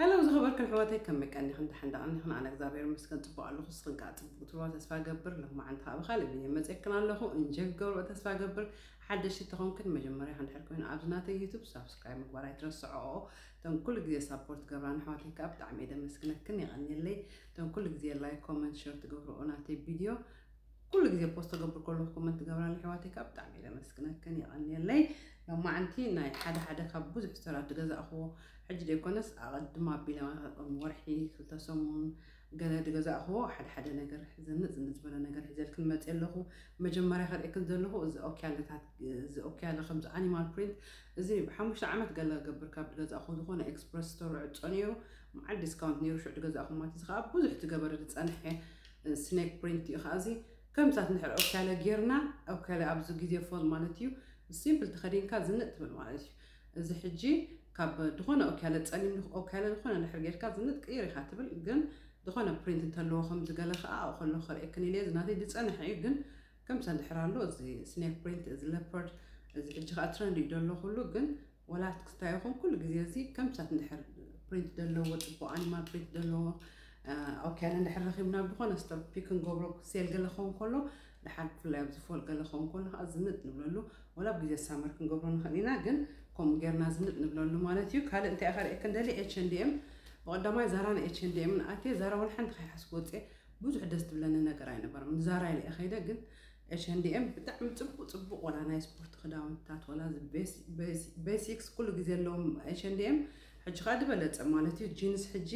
ሃለው ዝኸበርክን ኣሕዋተይ ከመይ ቀኒኽን ዳሕን ዳቀኒኽን ኣነ እግዝኣብሔር ይመስገን ጽቡቅ ኣለኹ እስኽን ከኣ ጽቡቅ ትብልዋ ተስፋ እገብር ሎማዓንቲ ከኣ ብኻልእ ቪድዮ መጼክን ኣለኹ እንጆይ ክትገብርኦ ተስፋ እገብር ሓደሽቲ ተኾንክን መጀመርያ እንድሕር ኮይኑ ኣብዚ ናተይ ዩቱብ ሳብስክራይብ ምግባር ኣይትረስዕኦ እተን ኩሉ ግዜ ሳፖርት ትገብራን ኣሕዋተይ ከኣ ብጣዕሚ እየ ደመስግነክን የቀንየለይ እተን ኩሉ ግዜ ላይክ ኮመንት ሸር ትገብርኦ ናተይ ቪድዮ ኩሉ ግዜ ፖስት ተገብር ከለኩ ኮመንት ትገብራለ ኣሕዋተይ ከኣ ብጣዕሚ እየ ለመስግነክን የቀንየለይ ሎማዓንቲ ናይ ሓደ ሓደ ካብ ብዙሕ ስተራት ድገዛእክዎ ሕጂ ደይኮነስ ኣቀድም ኣቢለ ከም ወርሒ ክልተ ሰሙን ገለ ድገዛእክዎ ሓደ ሓደ ነገር ዘንጥ ዝንጥ ዝበለ ነገር ሒዘልክን መፅየ ኣለኩ መጀመርያ ከርእክን ዘለኩ እዚ ኦክያለታት እዚ ኦክያለ ከምዚ ኣኒማል ፕሪንት እዚ ብሓሙሽተ ዓመት ገለ ገብር ካብ ድገዛእክዎ ዝኮነ ኤክስፕረስ ስቶር ዕፆ ነይሩ መዓል ዲስካውንት ነይሩ ሽዑ ድገዛእክዎ ማለት እዚ ከዓ ብዙሕ ትገበረ ዝፀንሐ ስኔክ ፕሪንት እዩ ከኣ እዚ ከምታት ንድሕር ኦካለ ጌርና ኦካለ ኣብዚ ግዜ ፎል ማለት እዩ ሲምፕል ተኸዲንካ ዝንጥ ትብል ማለት እዩ እዚ ሕጂ ካብ ድኾነ ኦካለ ጸሊም ኦካለ ዝኾነ ድሕር ጌርካ ዝንጥ ቅይር ኢኻ ትብል ግን ዝኾነ ፕሪንት እንተለዎ ከምዚ ገለ ከኣ ኣብኡ ከለኹ ከርእየክን ኢለ እዚ ናተይ ዝጸንሐ እዩ ግን ከምታ ድሕር ኣሎ እዚ ስኔክ ፕሪንት እዚ ለፐርድ እዚ ሕጂ ከኣ ትረንድ እዩ ደሎ ኩሉ ግን ወላ ክትክታዮ ይኹን ኩሉ ግዜ እዚ ከም ቻት እንድሕር ፕሪንት ዘለዎ ፅቡቅ ኣኒማል ፕሪንት ዘለዎ ኣውኪያና እንድሕር ረኪብና ብኮነ ስቶር ፒክ ክንገብሮ ሴል ገለ ክኸውን ከሎ ድሓር ብፍላይ ኣብዚ ፎል ገለ ክኸውን ከሎ ከዓ ዝንጥ ንብለሉ ወላ ኣብ ግዜ ሳመር ክንገብሮ ንኽእል ኢና ግን ከምኡ ጌርና ዝንጥ ንብለሉ ማለት እዩ ካልእ እንታይ ከርእየክ እንደሊ ኤች ኤንድ ኤም ብቐዳማይ ዛራ ን ኤች ኤንድ ኤምን ኣትየ ዛራ ወላ ሓንቲ ከይሓስብ ወፅየ ብዙሕ ደስ ትብለኒ ነገር ኣይነበረም ዛራ ኢለ ከይደ ግን ኤች-ኤንድ-ኤም ብጣዕሚ ጽቡቅ ጽቡቅ ወላ ናይ ስፖርት ክዳውንትታት ወላ ቤሲክስ ኩሉ ግዜ ኣለዎም ኤች-ኤንድ-ኤም ሕጂ ከኣ ድበለጸ ማለት እዩ ጂንስ ሕጂ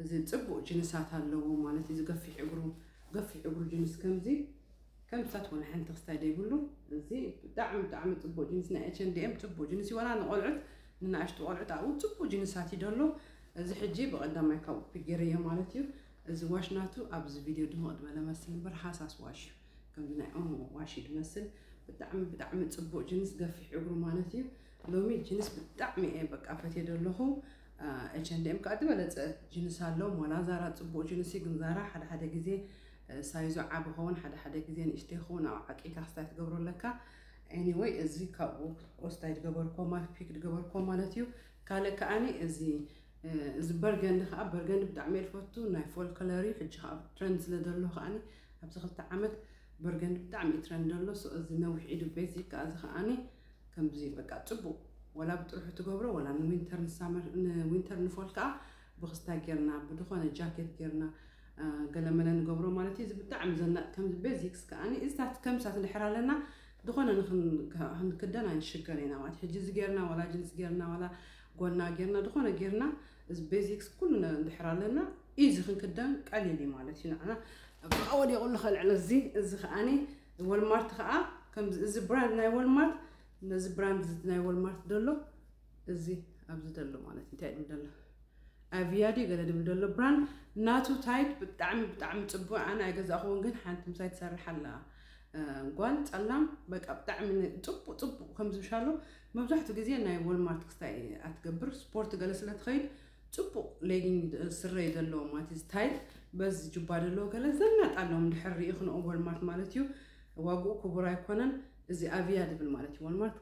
እዚ ጽቡቅ ጂንሳት ኣለዎ ማለት እዩ ገፊሕ እግሩ ገፊሕ እግሩ ጂንስ ከምዚ ከምዚታት ወላ ሓንቲ ክስታይ ዘይብሉ እዚ ብጣዕሚ ብጣዕሚ ጽቡቅ ጂንስ ናይ ኤች-ኤንድ-ኤም ጽቡቅ ጂንስ ወላ ንቆልዑት ንናእሽቱ ቆልዑት ኣብኡ ጽቡቅ ጂንሳት እዩ ደሎ እዚ ሕጂ ብቀዳማይ ካብኡ ፒጌረዮ ማለት እዩ እዚ ዋሽ ናቱ ኣብዚ ቪድዮ ድምቕ ድበለ መስል እምበር ሃሳስ ዋሽ እዩ ከምዚ ናይ ኦሞ ዋሽ እዩ ድመስል ብጣዕሚ ብጣዕሚ ጽቡቕ ጅንስ ገፊሕ እግሩ ማለት እዩ ሎሚ ጅንስ ብጣዕሚ እየ በቃ ፈትየ ደለኹ ኤችንድኤም ከዓ ዝበለፀ ጅንስ ኣሎ ሞላ ዛራ ጽቡቕ ጅንስ እዩ ግን ዛራ ሓደ ሓደ ግዜ ሳይዞ ዓብ ኸውን ሓደ ሓደ ግዜ ንእሽተ ይኸውን ኣብ ዓቂልካ ክስታይ ትገብሮ ኣለካ ኤኒወይ እዚ ካብኡ ኦስታይ ድገበርኮ ማፊክ ድገበርኮ ማለት እዩ ካልእ ከዓኒ እዚ እዚ በርገንዲ ከኣ በርገንዲ ብጣዕሚ እየ ዝፈቱ ናይ ፎል ከለር እዩ ሕጂ ከኣ ትረንድ ስለ ዘሎ ከኣ ኣብዚ ክልተ ዓመት በርገንዲ ብጣዕሚ እዩ ትረንድ ኣሎ ሶ እዚ ነዊሕ ኢዱ ቤዚክ ከኣ እዚ ከኣ ከምዚ በቃ ጽቡቅ ወላ ብጥርሑ ትገብሮ ወላ ንዊንተር ንሳመር ንዊንተር ንፎል ከኣ ብክስታይ ጌርና ብድኾነ ጃኬት ጌርና ገለመለ ንገብሮ ማለት እዩ እዚ ብጣዕሚ ዘናጥ ከምዚ ቤዚክስ ከኣ እዚታት ከምሳት ንድሕር ኣለና ዝኾነ ንክንክደን ኣይንሽገር ኢና ማለት ሕጂ እዚ ጌርና ዋላ ጅንስ ጌርና ዋላ ጎና ጌርና ድኮነ ጌርና እዚ ቤዚክስ ኩሉ እንድሕር ኣለና ኢዚ ክንክደን ቀሊል እዩ ማለት እዩ ንዓና ኣብኣ ወዲቁ ኣሎ ከልዕሎ እዚ እዚ ከዓኒ ወልማርት ከኣ ከምዚ እዚ ብራንድ ናይ ወልማርት ነዚ ብራንድ ናይ ወልማርት ደሎ እዚ ኣብዚ ደሎ ማለት እንታይ ድብል ደሎ ኣቪያ ድዩ ገለ ድብል ደሎ ብራንድ ናቱ ታይት ብጣዕሚ ብጣዕሚ ጽቡቅ ኣነ ኣይገዛእኹውን ግን ሓንቲ ምሳይ ትሰርሕ ኣላ ጓል ጸላም በቃ ብጣዕሚ ጽቡቅ ጽቡቅ ከምዚ ምሻሉ መብዛሕቱ ግዜ ናይ ወልማርት ክስታይ እያ ትገብር ስፖርት ገለ ስለ ትኸይድ ጽቡቅ ሌጊንግ ስረ እዩ ዘለዎ ማለት ስታይል በዚ ጁባ ደለዎ ገለ ዘናጥ ኣለዎም ድሕር ሪኢክንኦ ወልማርት ማለት እዩ ዋግኡ ክቡር ኣይኮነን እዚ ኣቪያ ድብል ማለት እዩ ወልማርት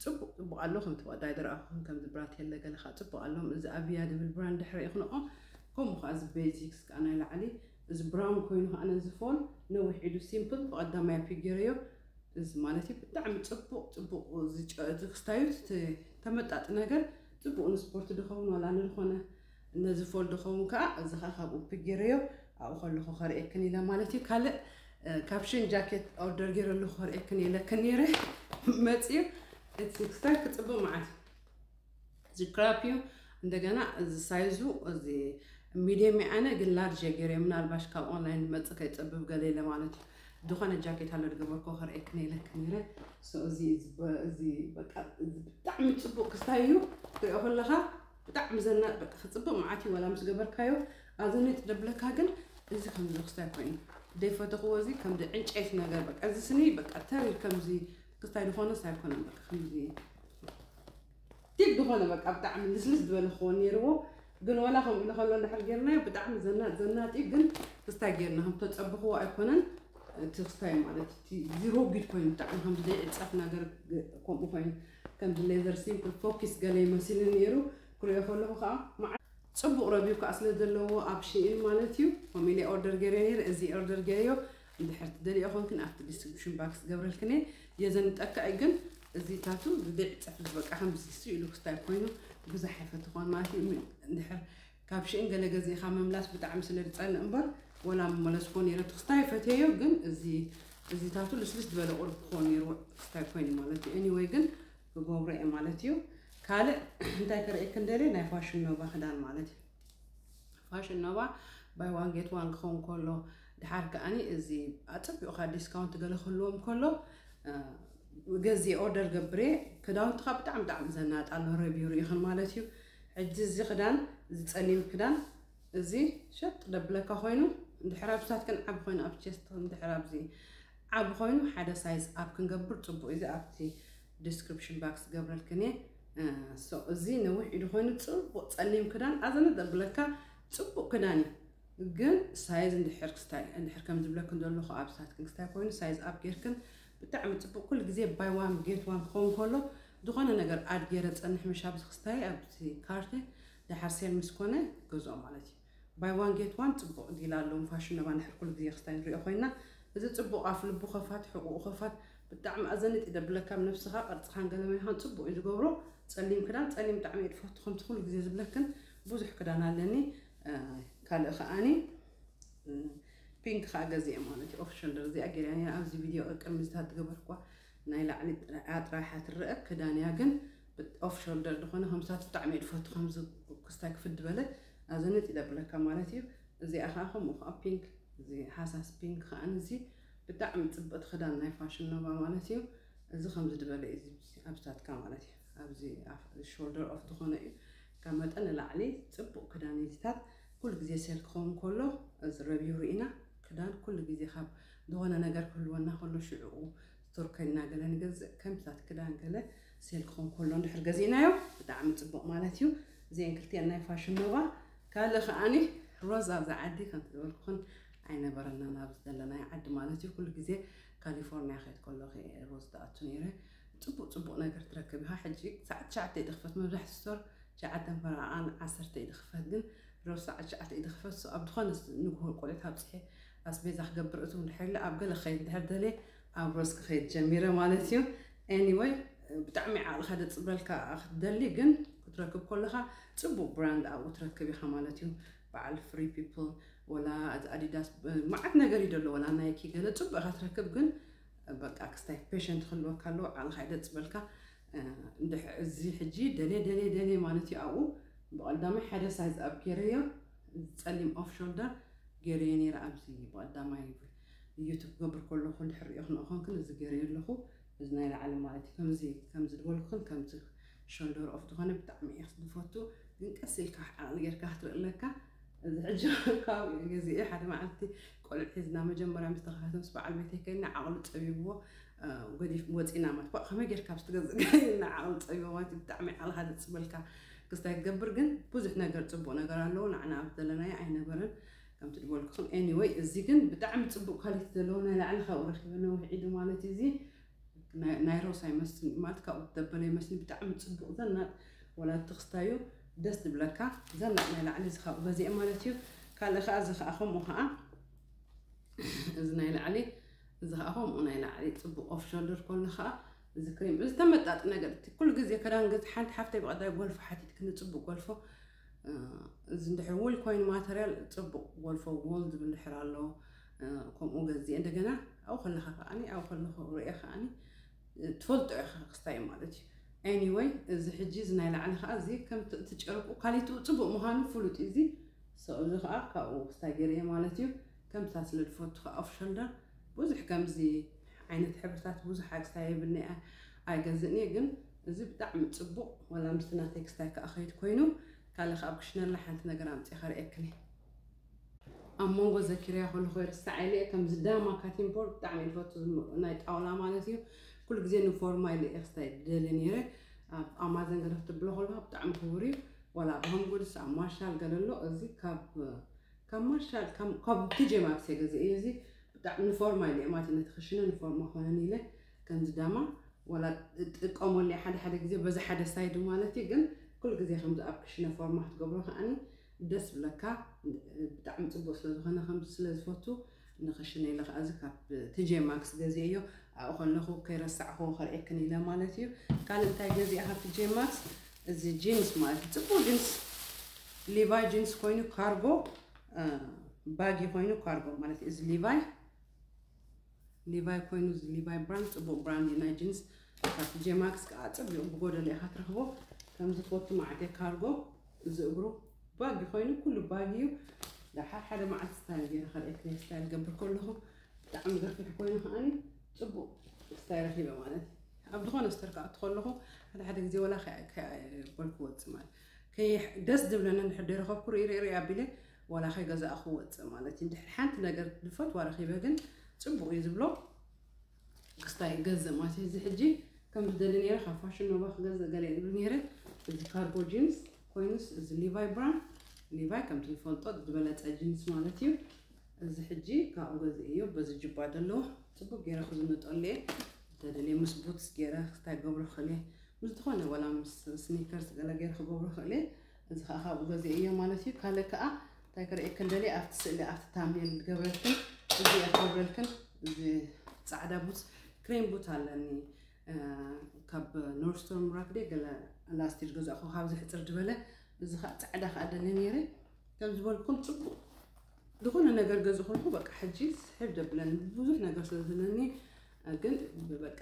ጽቡቅ ጽቡቅ ኣሎ ከም ተወዳይ ድረኣኹም ከም ዝብራት የለ ገለ ከዓ ጽቡቅ ኣሎም እዚ ኣብያ ድብል ብራንድ ድሕሪ ይኽንኦ ከምኡ ከዓ እዚ ቤዚክስ ከዓ ናይ ላዕሊ እዚ ብራውን ኮይኑ ከዓ ነዚ ፎን ነዊሕ ኢዱ ሲምፕል ብቀዳማይ ፒግ ገይረዮ እዚ ማለት እዩ ብጣዕሚ ጽቡቕ ጽቡቕ ዝክስታዩት እቲ ተመጣጢ ነገር ጽቡቕ ንስፖርት ድኸውን ዋላ ንዝኾነ ነዚ ፎል ድኸውን ከዓ እዚ ከዓ ካብኡ ፕጌረዮ ኣብኡ ከለኹ ከርእየክን ኢለ ማለት እዩ ካልእ ካብ ሽን ጃኬት ኦርደር ገይረ ኣለኹ ከርእየክን ኢለክን ነይረ መፅዩ እቲ ክስታይ ክፅቡቕ መዓት እዚ ክራፕ እዩ እንደገና እዚ ሳይዙ እዚ ሚድየም እዩ ኣነ ግን ላርጅ እየ ገይረ ምናልባሽ ካብ ኦንላይን ዝመፅእ ከይፀብብ ገለ ኢለ ማለት እዩ ዝኾነ ጃኬት ኣሎ ዝገበርኮ ከርእየክ ነይለክ ነይረ እዚ እዚ በቃ እዚ ብጣዕሚ ፅቡቅ ክስታይ እዩ ትሪኦ ከለካ ብጣዕሚ ዘናጥ በቃ ክፅብቅ መዓት እዩ ዋላ ምስ ገበርካዮ ኣብዚ ነጥ ደብለካ ግን እዚ ከምዚ ክስታይ ኮይኑ ዘይፈተኽዎ እዚ ከምዚ ዕንጨይቲ ነገር በቃ እዚ ስኒ በቃ ተሪር ከምዚ ክስታይ ድኾነስ ኣይኮነን በቃ ከምዚ ቲግ ድኾነ በቃ ብጣዕሚ ልስልስ ዝበለ ክኾን ነይርዎ ግን ወላ ከምኡ ኢሉ ከሎ እንድሕር ጌርናዮ ብጣዕሚ ዘናጥ ዘናጥ እዩ ግን ክስታይ ጌርና ከም ተፀብኽዎ ኣይኮነን እቲ ክስታይ ማለት እቲ ዚሮጊድ ኮይኑ ብጣዕሚ ከም ዘይዕፀፍ ነገር ከምኡ ኮይኑ ከምዚ ሌዘር ሲምፕል ፎኪስ ገለ ይመስል ነይሩ ክሪኦ ከለኹ ከዓ መዓ ፅቡቕ ረቪው ከዓ ስለ ዘለዎ ኣብ ሽኢን ማለት እዩ ከምኡ ኢለ ኦርደር ጌርዮ ነይረ እዚ ኦርደር ጌርዮ እንድሕር ትደልይኦ ኮንክን ኣብቲ ዲስክሪፕሽን ባክስ ክገብረልክን እየ የዘንጠካ እዩ ግን እዚ ታቱ ብቢዕ ፀፍሪ በቃ ከምዚ ስኢሉ ክስታይ ኮይኑ ብዛሕ ኣይፈትኾን ማለት እዩ እንድሕር ካብ ሽእን ገለ ገዜኻ ምምላስ ብጣዕሚ ስለ ዝፀልእ እምበር ወላ ምመለስኮ ነይረ እቲ ክስታይ ፈትየዮ ግን እዚ እዚ ታቱ ልስልስ ዝበለ ቁርብ ክኾን ነይሩ ክስታይ ኮይኑ ማለት እዩ ኤኒወይ ግን ክገብሮ እየ ማለት እዩ ካልእ እንታይ ከርእየክን ደልየ ናይ ፋሽን ኖቫ ክዳን ማለት እዩ ፋሽን ኖቫ ባይ ዋን ጌት ዋን ክኸውን ከሎ ድሓር ከዓኒ እዚ ኣጸቢቑ ካብ ዲስካውንት ገለ ክህልዎም ከሎ ገዜ ኦርደር ገብሬ ክዳውንትኻ ብጣዕሚ ብጣዕሚ ዘናጥ ኣሎ ረብዩ ርኢኽን ማለት እዩ ሕጂ እዚ ክዳን እዚ ጸሊም ክዳን እዚ ሸጥ ደብለካ ኮይኑ እንድሕር ኣብታት ግን ዓብ ኮይኑ ኣብ ቸስት እንድሕር ኣብዚ ዓብ ኮይኑ ሓደ ሳይዝ ኣብ ክንገብር ጽቡቅ እዚ ኣብቲ ዲስክርፕሽን ባክስ ክገብረልክን እየ ሶ እዚ ነዊሕ ኢዱ ኮይኑ ፅቡቅ ፀሊም ክዳን ኣዘነ ዘብለካ ፅቡቅ ክዳን እዩ ግን ሳይዝ እንድሕር ክስታይ እንድሕር ከም ዝብለክን ዘለኹ ኣብ ሳትክን ክስታይ ኮይኑ ሳይዝ ኣብ ጌርክን ብጣዕሚ ፅቡቅ ኩሉ ግዜ ባይ ዋን ጌት ዋን ክኸውን ከሎ ዝኾነ ነገር ኣድ ጌረ ፀንሕ ምሽ ኣብዚ ክስታይ ኣብዚ ካርቴ ደሓር ሴል ምስ ኮነ ገዝኦ ማለት እዩ ባይ ዋን ጌት ዋን ጽቡቕ ዲል ኣሎዎም ፋሽን እባ ንሕር ኩሉ ግዜ ክስታይ ንሪኦ ኮይና እዚ ጽቡቕ ኣፍ ልቡ ከፋት ሕቁኡ ከፋት ብጣዕሚ ኣዘኒጢ ደብለካ ብ ነብስኻ ቅርጽኻን ገለመልኻን ጽቡቕ እዩ ዝገብሮ ጸሊም ክዳን ጸሊም ብጣዕሚ እየ ድፈቱ ከምቲ ኩሉ ግዜ ዝብለክን ቡዙሕ ክዳን ኣለኒ ካልእ ከኣኒ ፒንክ ከኣ ገዚኤ ማለት እዩ ኦፍ ሸልደር እዚኣ ጌርያ ነይረ ኣብዚ ቪድዮ ቅድሚ እዚ ታትገበርክዋ ናይ ላዕሊ እያ ጥራሓ ትረኣ ክዳን እያ ግን ብጥ ኦፍ ሾልደር ድኮነ ከምሳቱ ብጣዕሚ እየ ድፈቱ ከምዚ ክስታይ ክፍት ድበለ ኣዘነት እየ ደብለካ ማለት እዩ እዚኣ ከኣ ከምኡ ከኣ ፒንክ እዚ ሃሳስ ፒንክ ከኣ እዚ ብጣዕሚ ጽብቅቲ ክዳን ናይ ፋሽን ኖቫ ማለት እዩ እዚ ከምዚ ድበለ እዩ እዚ ኣብስታትካ ማለት እዩ ኣብዚ ሾልደር ኦፍ ዝኾነ እዩ ካብ መጠን ንላዕሊ ጽቡቅ ክዳን ኢዚታት ኩሉ ግዜ ሴል ክኸውን ከሎ እዚ ረቢው ርኢና ክዳን ኩሉ ግዜ ካብ ዝኾነ ነገር ክህልወና ከሎ ሽዕኡ ቶርከና ገለ ንገዝእ ከምታት ክዳን ገለ ሴል ክኾን ከሎ እንድሕር ገዚእናዮ ብጣዕሚ ጽቡቕ ማለት እዩ እዚአን ክልቲአን ናይ ፋሽን ኖባ ካልእ ከዓኒ ሮዝ ኣብዚ ዓዲ ከምቲ ዝበልኩኽን ኣይነበረናን ኣብዚ ዘለናዮ ዓዲ ማለት እዩ ኩሉ ግዜ ካሊፎርኒያ ከይድ ከለኹ ሮዝ ትኣቱ ነይረ ጽቡቕ ጽቡቕ ነገር ትረክብ ኢኻ ሕጂ ሰዓት ትሽዓተ እዩ ድኽፈት መብዛሕቲ ስቶር ሸዓተን ፈረቓን ዓሰርተ እዩ ድኽፈት ግን ሮዝ ሰዓት ሸዓተ እዩ ድኽፈት ኣብ ዝኾነ ንግሆ ቆልዑት ኣብፅሐ ኣስቤዛ ክገብር እትው እንድሕር ኢለ ኣብ ገለ ክኸይድ እንድሕር ደልየ ኣብ ሮዝ ክኸይድ ጀሚረ ማለት እዩ። ኤኒወይ ብጣዕሚ ዓቕልኻ ደጽብረልካ ክትደሊ ግን ክትረክብ ከለኻ ጽቡቕ ብራንድ ኣብኡ ትረክብ ኢኻ ማለት እዩ። በዓል ፍሪ ፒፕል ወላ እቲ ኣዲዳስ መዓት ነገር እዩ ደሎ ወላ ናይኪ ገለ ጽቡቕ ኢኻ ትረክብ ግን በቃ ክስታይ ፔሸንት ክህልወካ ኣለዎ ዓቕልኻ ይደጽበልካ እዚ ሕጂ ደልየ ደልየ ደልየ ማለት እዩ ኣብኡ ብቐዳማይ ሓደ ሳይዝ ኣብ ገይረዮ ጸሊም ኦፍ ሾልደር ጌረዮ ኔረ ኣብዚ ብቀዳማይ ዩቱብ ክገብር ከለኩ ድሕር ሪኦ ክንኦኮንክን እዚ ጌረዮ ኣለኩ እዚ ናይ ላዕሊ ማለት እዩ ከምዚ ከምዚ ድበልኩክን ከምዚ ሾልደር ኦፍ ድኮነ ብጣዕሚ እየ ዝፈቱ ግን ቀስ ኢልካ ዓቅሊ ጌርካ ክትርኢ ኣለካ እዚ ሕጂ ካብኡ ገዚኡ ሓደ መዓልቲ ቆልዑ ሒዝና መጀመርያ ምስ ተከታተ ምስ በዓል ቤተይ ከይና ዓቅሉ ጸቢብዎ ገዲፍኩም ወጺና ማለት ባእ ከመይ ጌርካ ኣብቲ ገዝእ ገይ ንዓኡ ጸቢቦ ማለት ብጣዕሚ ዓልኻ ዝጽበልካ ክስታይ ክገብር ግን ብዙሕ ነገር ጽቡቅ ነገር ኣለዎ ንዓና ኣብ ዘለናዮ ኣይነበረን ከምቲ ዝበልኩኹም ኤኒወይ እዚ ግን ብጣዕሚ ፅቡቅ ኳሊቲ ዘለዎ ናይ ላዕሊ ካብኡ ረኪበ ነዊሕ ኢዱ ማለት እዩ እዚ ናይ ሮሳ ይመስል ማለት ካብኡ ደበለ ይመስል ብጣዕሚ ፅቡቅ ዘናጥ ወላቲ ክስታዩ ደስ ዝብለካ ዘናጥ ናይ ላዕሊ እዚ ካብኡ ገዚአ ማለት እዩ ካልእ ከዓ እዚ ከዓ ከምኡ ከዓ እዚ ናይ ላዕሊ እዚ ከኣ ከምኡ ናይ ላዕሊ ጽቡቅ ኦፍ ሾልደር ኮሎ ከኣ እዚ ክሪም እዚ ተመጣጥነ ገለ እቲ ኩሉ ግዜ ክዳን ገዝ ሓንቲ ሓፍተይ ብቀዳይ ጎልፎ ሓቲትክኒ ጽቡቅ ጎልፎ እዚ እንድሕር ውል ኮይኑ ማተርያል ጽቡቅ ጎልፎ ጎል ዝብል እንድሕር ኣሎ ከምኡ ገዝእ እንደገና ኣብኡ ከለካ ከኣኒ ኣብኡ ከለኩ ርእየ ከኣኒ ትፈልጦ ኢኻ ክስታይ ማለት እዩ ኤኒወይ እዚ ሕጂ እዚ ናይ ላዕሊ ከዓ እዚ ከምቲ እቲ ጨርቁ ካሊትኡ ፅቡቅ ምዃኑ ፍሉጥ እዩ እዚ እዚ ከዓ ካብኡ ክስታይ ገይረ ማለት እዩ ከምቲ እታ ዝነድፈቶ ከኣ ኦፍ ሸልደር ብዙሕ ከምዚ ዓይነት ሕብርታት ብዙሕ ኣስታ የብልኒ እያ ኣይገዝእን እየ ግን እዚ ብጣዕሚ ጽቡቅ ዋላ ምስቲ ናተይ ክስታይ ከኣ ከይድ ኮይኑ ካልእ ከኣ ኣብ ክሽነላ ሓንቲ ነገር ኣምጺ ከርእየክን እየ። ኣብ ሞንጎ ዘኪረያ ከለኩ ይርስዓ ኢለ እየ ከምዚ ዳማ ካቲን ቦርድ ብጣዕሚ እየ ዝፈቱ ናይ ጣውላ ማለት እዩ ኩሉ ግዜ ንፎርማ ኢለ እየ ክስታይ ዝደሊ ነይረ ኣብ ኣማዘን ገለ ክትብሎ ከለካ ብጣዕሚ ክቡር እዩ ዋላ ኣብ ሆም ጉድስ ኣብ ማርሻል ገለ ኣሎ እዚ ካብ ካብ ማርሻል ካብ ካብ ግጀ ማግሰ ገዘ እዩ እዚ ብጣዕሚ ንፎርማ ኢለ ማለት ነቲ ክሽነ ንፎርማ ኮነኒ ኢለ ከምዚ ዳማ ወላ ጥቀመሉ እየ ሓደ ሓደ ግዜ በዚ ሓደ ሳይዱ ማለት እዩ ግን ኩሉ ግዜ ከምዚ ኣብ ክሽነ ፎርማ ክትገብሮ ከዓኒ ደስ ብለካ ብጣዕሚ ጽቡቅ ስለ ዝኮነ ከምዚ ስለ ዝፈቱ ንክሽነ ኢለ ከኣ እዚ ካብ ትጄ ማክስ ገዚኤዮ ኣብኡ ከለኩ ከይረሳዕክዎ ከርእየክን ኢለ ማለት እዩ ካልእ እንታይ ገዚኣ ካብ ትጄ ማክስ እዚ ጂንስ ማለት እዩ ፅቡቅ ጂንስ ሊቫይ ጂንስ ኮይኑ ካርጎ ባጊ ኮይኑ ካርጎ ማለት እዩ እዚ ሊቫይ ሊቫይ ኮይኑ እዚ ሊቫይ ብራንድ ፅቡቅ ብራንድ እዩ ናይ ጂንስ እታ ቲጄ ማክስ ከኣ ጽቢቁ ብጎደሎ ኢካ ትረክቦ ከምዚ ትወቱ ማዕገ ካርጎ እዚ እግሩ ባጊ ኮይኑ ኩሉ ባጊ እዩ ደሓር ሓደ መዓልቲ ስታይል ገይረ ከርእየክን ስታይል ገብር ከለኹ ብጣዕሚ ገፊሕ ኮይኑ ከዓኒ ጽቡቅ ስታይ ረኪበ ማለት ኣብ ዝኾነ ስተር ከኣቱ ከለኹ ሓደ ሓደ ግዜ ወላ በልኩ ወፅእ ማለት ደስ ዝብለኒ እንድሕር ደይረኸብኩ ርኢ ርኢ ርኢ ኣቢለ ወላ ከይገዛእኹ ወፅእ ማለት እዩ ድሕሪ ሓንቲ ነገር ዝፈትዋ ረኪበ ግን ፅቡቅ እዩ ዝብሎ ክስታይ ይገዝእ ማለት እዩ እዚ ሕጂ ከም ዝደሊ ነይረ ካብ ፋሽን ኖቫ ክገዝእ ገለ ይብል ነይረ እዚ ካርጎ ጂንስ ኮይኑስ እዚ ሊቫይ ብራንድ ሊቫይ ከምቲ ንፈልጦ ዝበለፀ ጂንስ ማለት እዩ እዚ ሕጂ ካብኡ ገዝእ እዩ በዚ ጅባ ዘለዎ ፅቡቅ ገይረ ክዝንጠሉ እየ ተደልየ ምስ ቡትስ ገይረ ክስታይ ገብሮ ክእል እየ ምስ ዝኾነ ዋላ ምስ ስኒከርስ ገለ ገይረ ክገብሮ ክእል እየ እዚ ከኣ ካብኡ ገዚኤዮ ማለት እዩ። ካልእ ከኣ እንታይ ከርእየክን ደልየ ኣብቲ ስእሊ ኣብቲ ታምኔል ዝገብረልክን እዚ እያ ክገብረልክን እዚ ጻዕዳ ቡት ክሬም ቡት ኣለኒ ካብ ኖርስቶን ራክዴ ገለ ላስቲ ዝገዛእኹ ካብዚ ሕፅር ዝበለ እዚ ከዓ ጻዕዳ ከዓ ደሊ ነይረ ከም ዝበልኩም ፅቡቅ ዝኾነ ነገር ገዝ ኮልኩ በቃ ሕጂ ስሕብ ደብለን ብዙሕ ነገር ስለ ዘለኒ ግን በቃ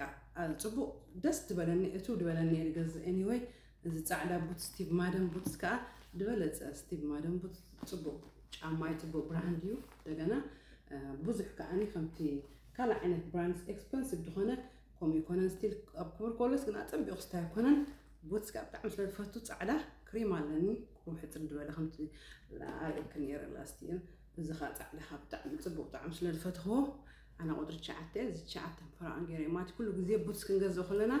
ፅቡቅ ደስ ዝበለኒ እቱ ዝበለኒ ገዝ ኤኒወይ እዚ ጻዕዳ ቡትስ ስቲቭ ማደን ቡትስ ከኣ ድበለጸ ስቲቭ ማደን ቡትስ ጽቡቅ ጫማ እዩ ጽቡቅ ብራንድ እዩ ደገና ብዙሕ ከኣኒ ከምቲ ካልእ ዓይነት ብራንድስ ኤክስፐንሲቭ ድኾነ ከምኡ ይኮነን ስቲል ኣብ ክብር ኮለስ ግን ኣጸቢቑ ስታ ኣይኮነን ቡትስ ከኣ ብጣዕሚ ስለ ዝፈቱ ጻዕዳ ክሪም ኣለኒ ቁሩብ ሕጽር ድበለ ከምቲ ኣርእየክ ነይረ ላስቲየን እዚ ከኣ ጻዕዳ ከኣ ብጣዕሚ ጽቡቅ ጣዕሚ ስለ ዝፈትኽዎ ኣነ ቁጽሪ ትሽዓተ እየ እዚ ትሽዓተ ክፍራኣን ገይረ እየ ማለት ኩሉ ግዜ ቡትስ ክንገዝእ ከለና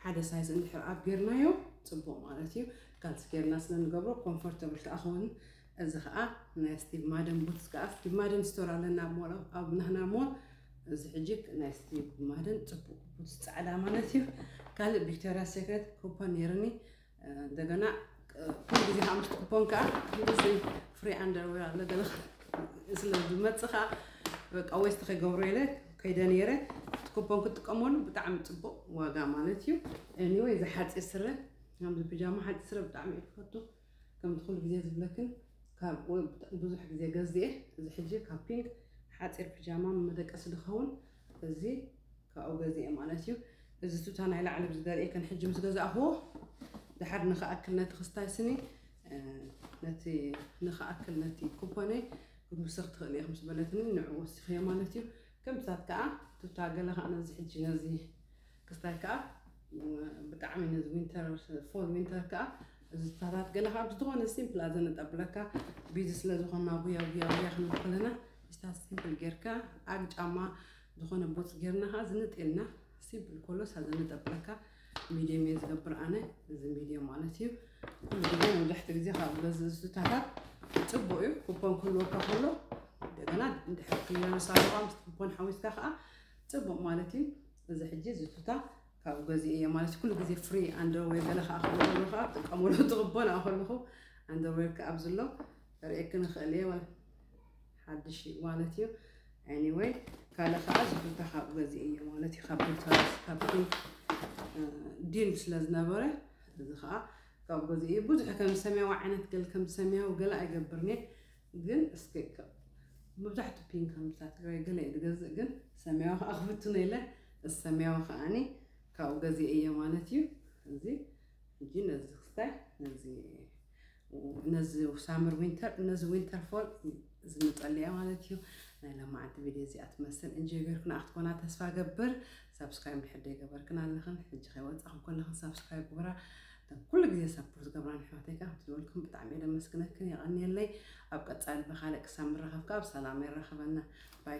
ሓደ ሳይዝ እንድሕር ኣብ ጌርናዮ ጽቡቅ ማለት እዩ ካልሲ ጌርና ስለ ንገብሮ ኮምፎርተብል ከኣ ክውን እዚ ከኣ ናይ ስቲቭ ማደን ቡትስ ከኣ ስቲቭ ማደን ስቶር ኣለና ሞል ኣብ ናህና ሞል እዚ ሕጂ ናይ ስቲቭ ማደን ጽቡቅ ቡትስ ጻዕዳ ማለት እዩ ካልእ ቪክቶሪያ ሴክሬት ኩፖን ነይርኒ እንደገና ኩሉ ግዜ ከዓ ምስቲ ኩፖን ከዓ እዚ ፍሪ ኣንደርዌር ኣሎ ገለ ስለ ዝመፅእ ከዓ በቃ ዌስት ከይገብሮ ኢለ ከይደ ነይረ እቲ ኩፖን ክጥቀመሉ ብጣዕሚ ፅቡቅ ዋጋ ማለት እዩ ኤኒወይ እዚ ሓፂር ስረ ከምዚ ብጃማ ሓፂር ስረ ብጣዕሚ እየ ክፈቱ ከምቲ ኩሉ ግዜ ዝብለክን ካብ ብዙሕ ግዜ ገዝእ እዚ ሕጂ ካብ ፒንክ ሓፂር ፒጃማ መደቀሲ ዝኸውን እዚ ካብኡ ገዚኤ ማለት እዩ። እዚ ቱታ ናይ ላዕሊ ዝደርኤክን ሕጂ ምስ ገዛእኽዎ ድሓር ንክኣክል ነቲ ክስታይ ስኒ ነቲ ንክኣክል ነቲ ኩፖነይ ክትውስኽ ትኽእሊ ኢኹም ዝበለትኒ ንዕኡ ወሲኽዮ ማለት እዩ። ከምታት ከዓ ቱታ ገለ ከዓ ነዚ ሕጂ ነዚ ክስታይ ከኣ ብጣዕሚ ነዚ ዊንተር ፎል ዊንተር ከኣ ዝታታት ገለ ካብ ዝኾነ ሲምፕል ኣዘ ነጠብለካ ቢዚ ስለ ዝኾና ጉያ ጉያ ጉያ ክንብል ከለና ስታት ሲምፕል ጌርካ ኣግ ጫማ ዝኾነ ቦት ጌርና ከኣ ዝንጥ ኢልና ሲምፕል ኮሎስ ኣዘ ነጠብለካ ሚድየም እየ ዝገብር ኣነ እዚ ሚድየም ማለት እዩ ኩሉ ግዜ መብዛሕትኡ ግዜ ካብ በዚ ዝታታት ፅቡቅ እዩ ኩፖን ክህልወካ ከሎ እንደገና እንድሕር ክየነሳ ምስ ኩፖን ሓዊስካ ከዓ ፅቡቅ ማለት እዩ እዚ ሕጂ እዚ ቱታ ካብኡ ገዚኤዮ ማለት ኩሉ ግዜ ፍሪ ኣንደርዌር ገለ ከዓ ከለኩሉ ከዓ ጥቀሙሉ ትቕቦ ንኣ ከለኹ ኣንደርዌር ከዓ ኣብዚ ኣሎ ርእየኪ ንኽእል እየ ማለት ሓድሽ እዩ ማለት እዩ ኤኒወይ ካልእ ከዓ እዚ ቱታ ካብኡ ገዚኤዮ ማለት እዩ ካብ ዶክተራት ካብ ዲል ስለ ዝነበረ እዚ ከዓ ካብኡ ገዚኤዮ ብዙሕ ከም ሰማያዊ ዓይነት ገል ከም ሰማያዊ ገለ ኣይገብርን እየ ግን እስከ መብዛሕቱ ፒንክ ኣምብሳ ትግራይ ገለ እየ ዝገዝእ ግን ሰማያዊ ከዓ ክፍትኖ ኢለ እዚ ሰማያዊ ከዓኒ ካብኡ ገዚኤ እየ ማለት እዩ እዚ እንጂ ነዚ ክስታይ ነዚ ነዚ ሳመር ዊንተር ነዚ ዊንተር ፎል ዝምጠልያ ማለት እዩ ናይ ለማዓንቲ ቪድዮ እዚኣ ትመስል እንጂ ገርክና ክትኮና ተስፋ ገብር ሳብስክራይብ ድሕር ገበርክን ኣለኽን ሕጂ ከይወፃኹም ከለኽን ሳብስክራይብ ግበራ እተን ኩሉ ግዜ ሳፖርት ዝገብራኒ ኣሕዋተይ ከኣ ከምቲ ዝበልክን ብጣዕሚ እየ ደመስግነክን የቀንየለይ ኣብ ቀጻሊ ብካልእ ክሳብ ንራከብ ከኣ ብሰላም የራክበና ባይ